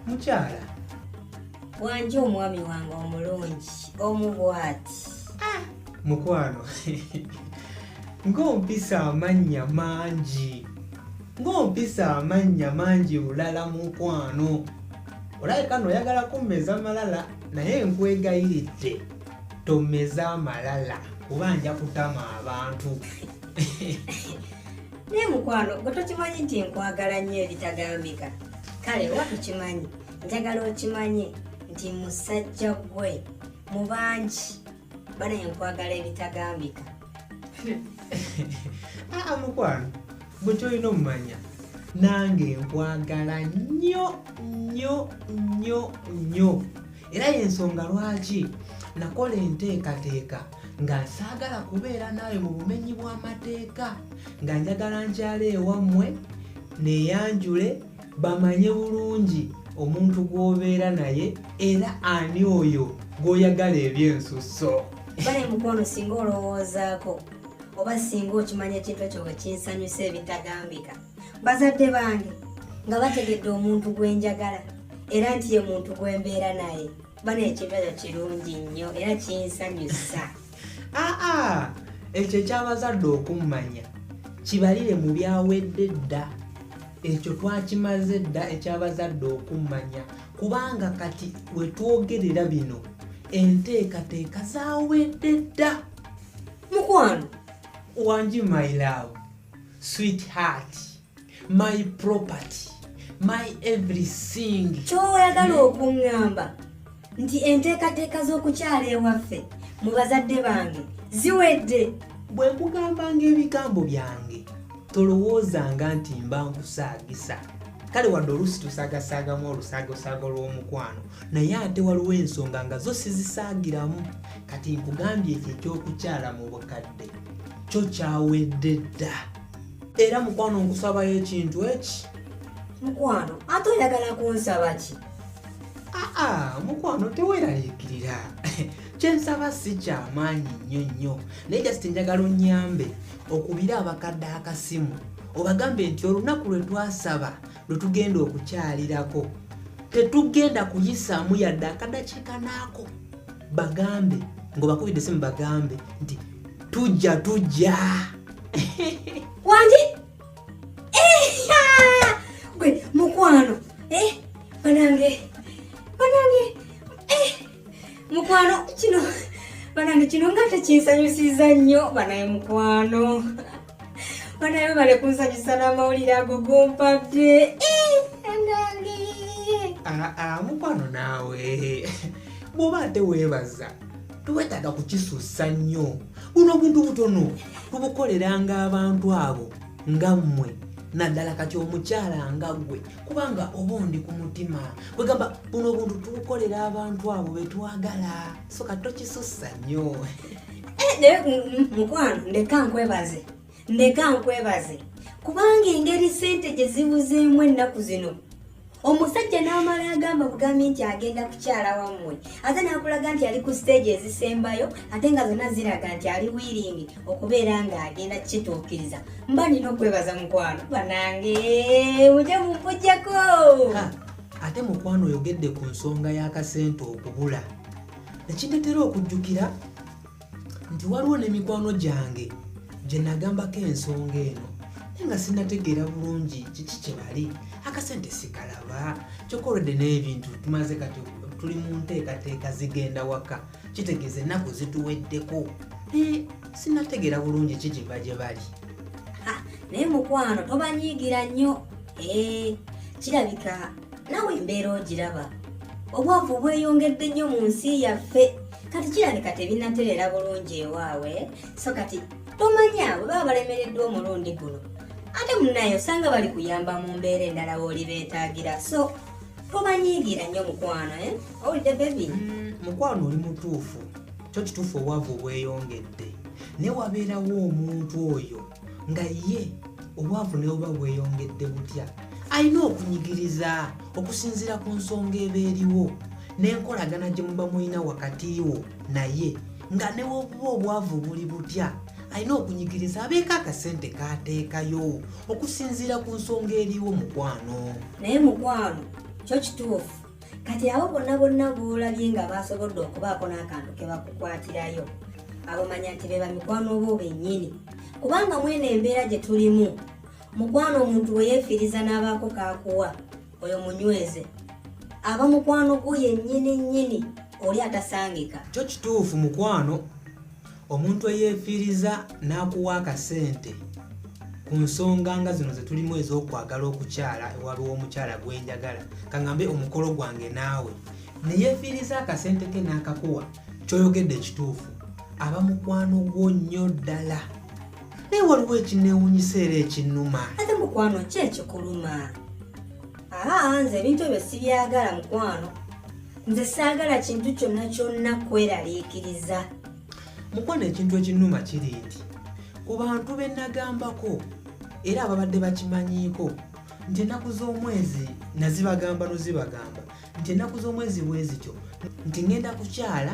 mukyala wanji omwami wange omulungi omu bwati ah, mukwano ng'ompisa amannya mangi ng'ompisa amannya mangi bulala mukwano olabe kano oyagala kummeza malala naye nkwegayiridde tomeza amalala kuba nja kutama abantu naye mukwano gwe tokimanyi nti nkwagala nnyo ebitagambika kale oba tukimanyi njagala okimanye nti musajja gwe mu bangi bana enkwagala ebitagambika aa ah, ah, mukwano bwe kyolina omumanya nange nkwagala nnyo nnyo nnyo nnyo era yensonga lwaki nakola enteekateeka nga nsaagala kubeera naawe mu bumenyi bw'amateeka nga njagala nkyala ewammwe neyanjule bamanye bulungi omuntu gw'obeera naye era ani oyo gw'oyagala ebyensusso bale mukwano singa olowoozaako oba singa okimanya ekintu ekyo bwe kinsanyusa ebitagambika bazadde bange nga bategedde omuntu gwe njagala era nti ye muntu gwe mbeera naye bana ekibezo kirungi nnyo era kinsanyusa aa ah, ah. ekyo ekyabazadde okummanya kibalire mu byawedde dda ekyo twakimaze dda ekyabazadde okummanya kubanga kati wetwogerera bino enteekateeka zawedde dda mukwano wangi my love sweet heart my property my everything kyoyagala okuŋŋamba nti enteekateeka z'okukyala ewaffe mu bazadde bange ziwedde bwe nkugambanga ebigambo byange tolowoozanga nti mba nkusaagisa kale wadde oluusi tusagasaagamu olusaagasaaga olw'omukwano naye ate waliwo ensonga nga zo sizisaagiramu kati nkugambye ekyo ekyokukyala mu bukadde kyo kyawedde dda era mukwano nkusabayo ekintu eki mukwano ate oyagala kunsaba ki aa mukwano teweraliikirira kyensaba si kyamaanyi nnyo nnyo naye just njagala onyambe okubira abakadde akasimu obagambe nti olunaku lwe twasaba lwe tugenda okukyalirako tetugenda kuyisaamu yadde akadakiikanaako bagambe ngobakubidde simu bagambe nti tujja tujja wangi gwe mukwano eh, banange banange eh, mukwano kino banange kino nga tekinsanyusiza nnyo banaye mukwano Bana yo bale kunsanyusa n'amawulire ago gompadde. Eh, anange. Ah, ah, mukwano naawe. Bw'oba ate weebaza tewetaaga kukisussa nnyo. Buno obuntu butono tubukoleranga abantu abo nga mmwe naddala kati omukyala nga gwe kubanga oba ondi ku mutima kwegamba buno obuntu tubukolera abantu abo betwagala so kato kisusa nyo eh, naye mukwano ndeka nkwebaze ndeka nkwebaze kubanga engeri sente gye zibuzeemu ennaku zino omusajja n'amala agamba bugambi nti agenda kukyala wammwe ate n'akulaga nti ali ku siteegi ezisembayo ate nga zonna ziraga nti ali wiiringi okubeera ng'agenda kukituukiriza mba nina okwebaza mukwano banange muje mumpujjako ate mukwano oyogedde ku nsonga y'akasente okubula nekintetera okujjukira nti waliwo ne mikwano gyange gye nagambako ensonga eno naye nga sinategeera bulungi kiki kye bali akasente sikalaba kyokolwedde n'ebintu tumaze kati tuli mu nteekateeka zigenda waka kitegeeza ennaku zituweddeko naye sinategeera bulungi ki kiva gye bali naye mukwano tobanyiigira nnyo ee eh, kirabika nawe embeera ogiraba obwavu bweyongedde nnyo mu nsi yaffe kati kirabika tebinatereera bulungi ewaawe so kati tomanya bwe baba balemereddwa omulundi guno ate munaye osanga bali kuyamba mu mbeera endala wooli beetaagira so tobanyiigira nnyo mukwano eh? owulidde bebi mm, mukwano oli mutuufu kyo kituufu obwavu obweyongedde naye wabeerawo omuntu oyo nga ye obwavu naye oba bweyongedde butya alina okunyigiriza okusinziira ku nsonga eba eriwo n'enkolagana gye muba mulina wakati wo naye nga newobuba obwavu buli butya alina okunyigiriza abeeko akasente kaateekayo okusinziira ku nsonga eriwo mukwano naye mukwano kyo kituufu kati abo bonna bonna boolabye nga baasobodde okubaako n'akantu ke bakukwatirayo abo manya nti be bamikwano bo bennyini kubanga mwene embeera gye tulimu mukwano omuntu we yeefiiriza n'abaako kaakuwa oyo munyweze aba mukwano gwo yennyini nnyini oli atasangika kyo kituufu mukwano omuntu eyeefiiriza n'akuwa akasente ku nsonga nga zino ze tulimu ez'okwagala okukyala ewabi w'omukyala gwe njagala kaŋambe omukolo gwange naawe ne yeefiiriza akasente ke n'akakuwa kyoyogedde ekituufu aba mukwano gwo nnyo ddala naye waliwo ekineewunyisa era ekinnuma ate mukwano ki ekikuluma Aa, nze ebintu ebyo sibyagala mukwano nze saagala kintu kyonna kyonna kweraliikiriza mukwano ekintu ekinuma kiri nti ku bantu be nagambako era ababadde bakimanyiiko nti ennaku z'omwezi nazibagamba nozibagamba nti ennaku z'omwezi bwezityo nti ŋŋenda kukyala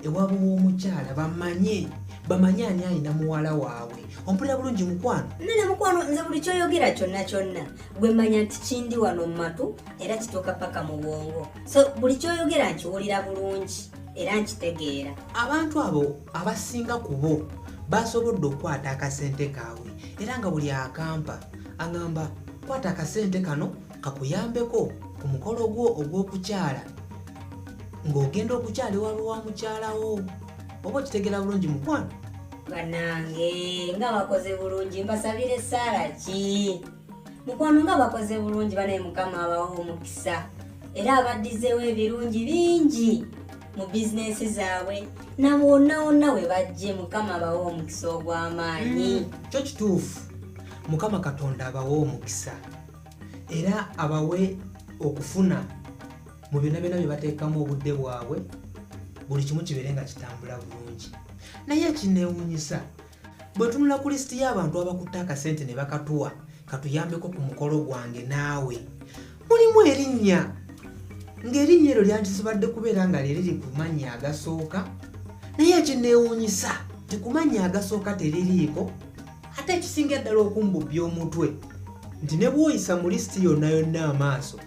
ewabo w'omukyala bamanye bamanye ani alina muwala waabwe ompulira bulungi mukwano nene mukwano nze buli kyoyogera kyonna kyonna gwe manya nti kindi wano mu matu era kituuka paka mu bwongo so buli kyoyogera nkiwulira bulungi era nkitegeera abantu abo abasinga ku bo basobodde okukwata akasente kaabwe era nga buli akampa aŋamba kwata akasente kano kakuyambeko ku mukolo gwo ogw'okukyala ng'ogenda okukyala ewabe wa mukyalawo oba okitegera bulungi mukwano banange nga bakoze bulungi mbasabire esaala ki mukwano nga bakoze bulungi banaye mukama abawa omukisa era abaddizeewo ebirungi bingi mu bizinensi zaabwe nabo wonna wonna we bajje mukama abawa omukisa ogw'amaanyi mm, kyo kituufu mukama katonda abawa omukisa era abawe okufuna mu byonna byonna bye bateekamu obudde bwabwe buli kimu kibeere nga kitambula bulungi naye ekineewunyisa bwe tunula ku lisiti y'abantu abakutte akasente ne bakatuwa katuyambeko ku mukolo gwange naawe mulimu erinnya ng'erinnya eryo lyandisibadde kubeera nga lyeriri ku mannya agasooka naye ekineewunyisa tekumanya agasooka teririiko ate ekisinga eddala okumbubbya omutwe nti ne bwoyisa mu lisiti yonna yonna amaaso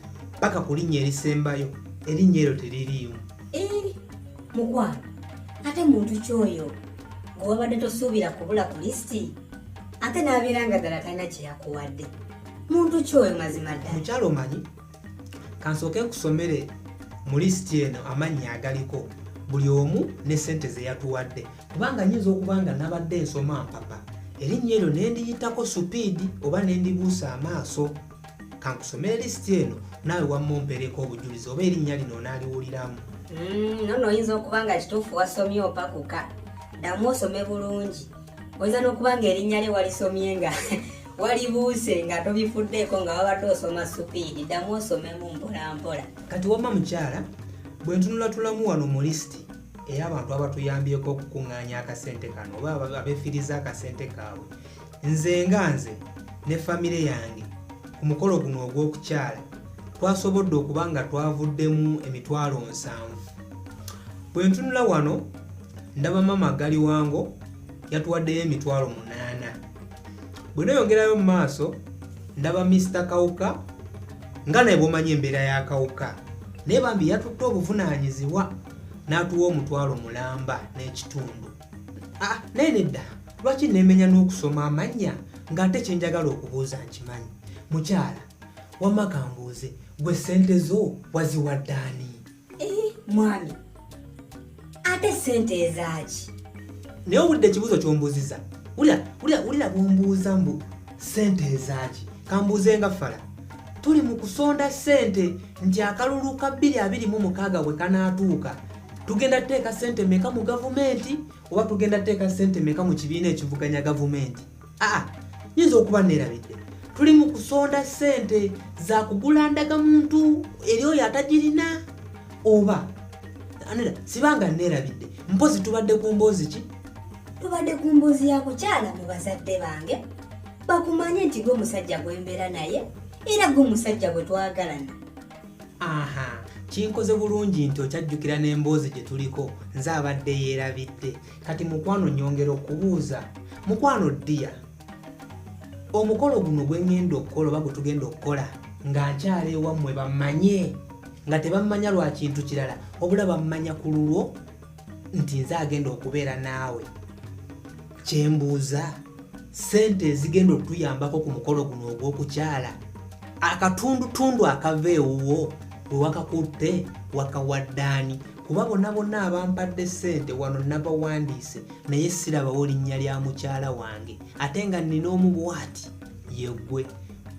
paka ku linnya erisembayo erinnya eryo teririimu eh, mukwano ate muntu kyoyo ng'owabadde tosuubira kubula ku lisiti ate n'abeera nga ddala talina kye yakuwadde muntu kyoyo mazima ddala mukyalo omanyi kansooke nkusomere mu lisiti eno amannya agaliko buli omu ne sente zeyatuwadde kubanga nyinza okuba nga nabadde nsoma mpapa erinnya eryo nendiyitako supiidi oba nendibuusa amaaso kankusomere lisiti eno naawe wamma ompereeko obujulizi oba erinnya lino onaaliwuliramu mm, nono oyinza okuba nga kituufu wasomye opakuka ddamu osome bulungi oyinza n'okuba nga erinnya lye walisomye nga walibuuse nga tobifuddeeko nga wabadde osoma supiidi ddamu osomemu mpolampola kati wamma mukyala bwe ntunulatulamu wano mu lisiti era abantu abatuyambyeko okukuŋŋaanya akasente kano oba abeefiriza akasente kaabwe nze nga nze ne famire yange ku mukolo guno ogw'okukyala twasobodde okuba nga twavuddemu emitwalo nsanvu bwe ntunula wano ndaba maama gali wango yatuwaddeyo emitwalo munaana bwe noyongerayo mu maaso ndaba misita kawuka nga naye bwomanyi embeera ya kawuka naye bambi yatutte obuvunaanyizibwa n'atuwa omutwalo mulamba n'ekitundu ah, naye nedda lwaki nemenya n'okusoma amannya ng'ate kyenjagala okubuuza nkimanyi mukyala wamma kambuuze gwe sente zo waziwaddaani eh, mwami ate sente ezaaki naye owulidde ekibuuzo kyombuuziza wulira bwombuuza mbu sente ezaaki kambuuze nga fala tuli mu kusonda sente nti akalulu ka 226 bwe kanaatuuka tugenda tuteeka sente meka mu gavumenti oba tugenda tuteeka sente meka mu kibiina ekivuganya gavumenti aa nyinza okuba neerabidde tuli mu kusonda sente za kugula ndaga muntu eri oyo atagirina oba anera sibanga neerabidde mpozi tubadde ku mboozi ki tubadde ku mboozi ya kukyala mu bazadde bange bakumanye nti gwe musajja gwe mbeera naye era gwe musajja gwe twagalana aha kinkoze bulungi nti okyajjukira n'emboozi gye tuliko nze abadde yeerabidde kati mukwano nyongera okubuuza mukwano ddiya omukolo guno gwe ŋŋenda okukola oba gwe tugenda okukola nga nkyala ewammwe bamanye nga tebammanya lwa kintu kirala obula bammanya ku lulwo nti nze agenda okubeera naawe kyembuuza sente ezigenda okutuyambako ku mukolo guno ogw'okukyala akatundutundu akava ewuwo bwe wakakutte wakawaddaani kuba bona bonna abampadde sente wano nabawandiise naye sirabawo linnya lya mukyala wange ate nga nnina omu bwati yegwe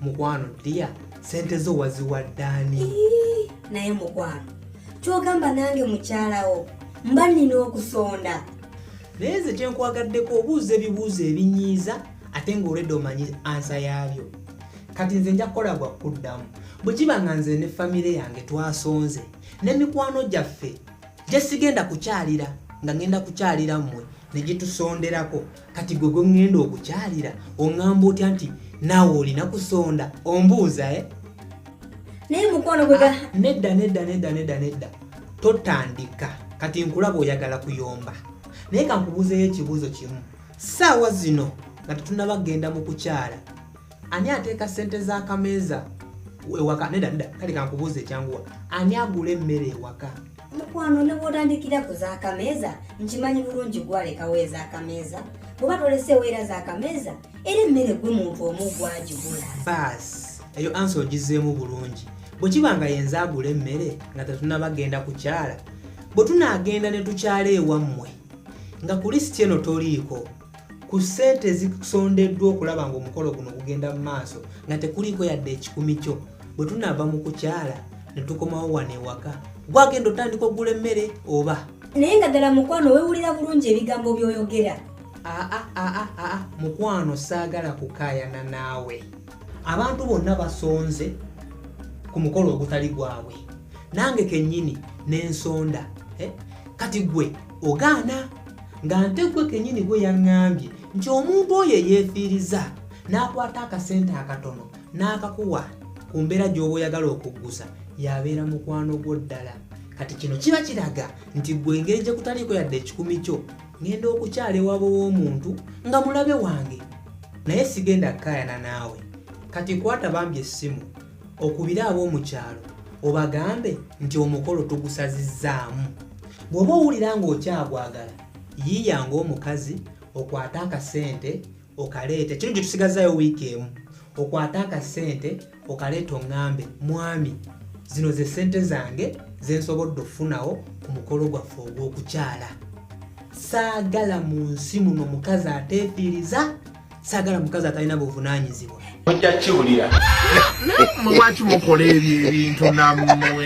mukwano dia sente zo waziwaddani naye mukwano kyogamba nange mukyalawo mba nina okusonda naye nze kyenkwagadeko obuuza ebibuuzo ebinyiiza ate ngaolwedde omanyi ansa yaabyo kati nze nja kukola gwa kuddamu bwe kiba nga nze ne famire yange twasonze ne mikwano gyaffe gyesigenda kukyalira nga ngenda kukyalira mmwe ne gitusonderako kati gwe gwe ŋŋenda okukyalira oŋŋamba otya nti naawe olina kusonda ombuuza e naye mukwano gwe ah, nedda nedda nedda nedda nedda totandika kati nkulaba oyagala kuyomba naye kankubuuzeyo ekibuuzo kimu saawa zino nga tetunaba kugenda mu kukyala ani ateeka ssente z'akameeza ewaka neda neda kale kankubuuza ekyanguwa ani agula emmere ewaka mukwano ne bwotandikira ku z'akameeza nkimanyi bulungi gwalekawo ez'akameeza bweba toleseewo era z'akameeza era emmere gwe muntu omu gwagigula baasi eyo ansi ogizeemu bulungi bwe kiba nga yenza agula emmere nga tetunaba genda kukyala bwe tunaagenda ne tukyala ewammwe nga ku lisiti eno toliiko ku ssente ezisondeddwa okulaba ng'omukolo guno gugenda mu maaso nga tekuliiko yadde ekikumi kyo bwe tunaava mu kukyala ne tukomawo wano ewaka gwagenda otandika okugula emmere oba naye nga ddala mukwano wewulira bulungi ebigambo by'oyogera aa aa aa mukwano saagala kukaayana naawe abantu bonna basonze ku mukolo ogutali gwabwe nange kennyini n'ensonda eh? kati gwe ogaana nga nte gwe kenyini gwe yaŋŋambye nti omuntu oyo eyeefiiriza n'akwata akasente akatono n'akakuwa ku mbeera gy'oba oyagala okuggusa yabeera mukwano gwo ddala kati kino kiba kiraga nti gwe engeri gye kutaliiko yadde ekikumi kyo ŋenda okukyala ewabo w'omuntu nga mulabe wange naye sigenda kukaayana naawe kati kwata bambi essimu okubire ab'omu kyalo obagambe nti omukolo tugusazizzaamu bw'oba owulira ng'okyagwagala yiiya ng'omukazi okwate akasente okaleete kino gye tusigazaayo wiiki emu okwate akasente okaleeta oŋŋambe mwami zino ze ssente zange ze nsobodde okufunawo ku mukolo gwaffe ogw'okukyala saagala mu nsi muno mukazi ateefiiriza sagala mukazi atalina buvunanyizibwa ojja kiwulira lwaki mukola ebyo ebintu namwe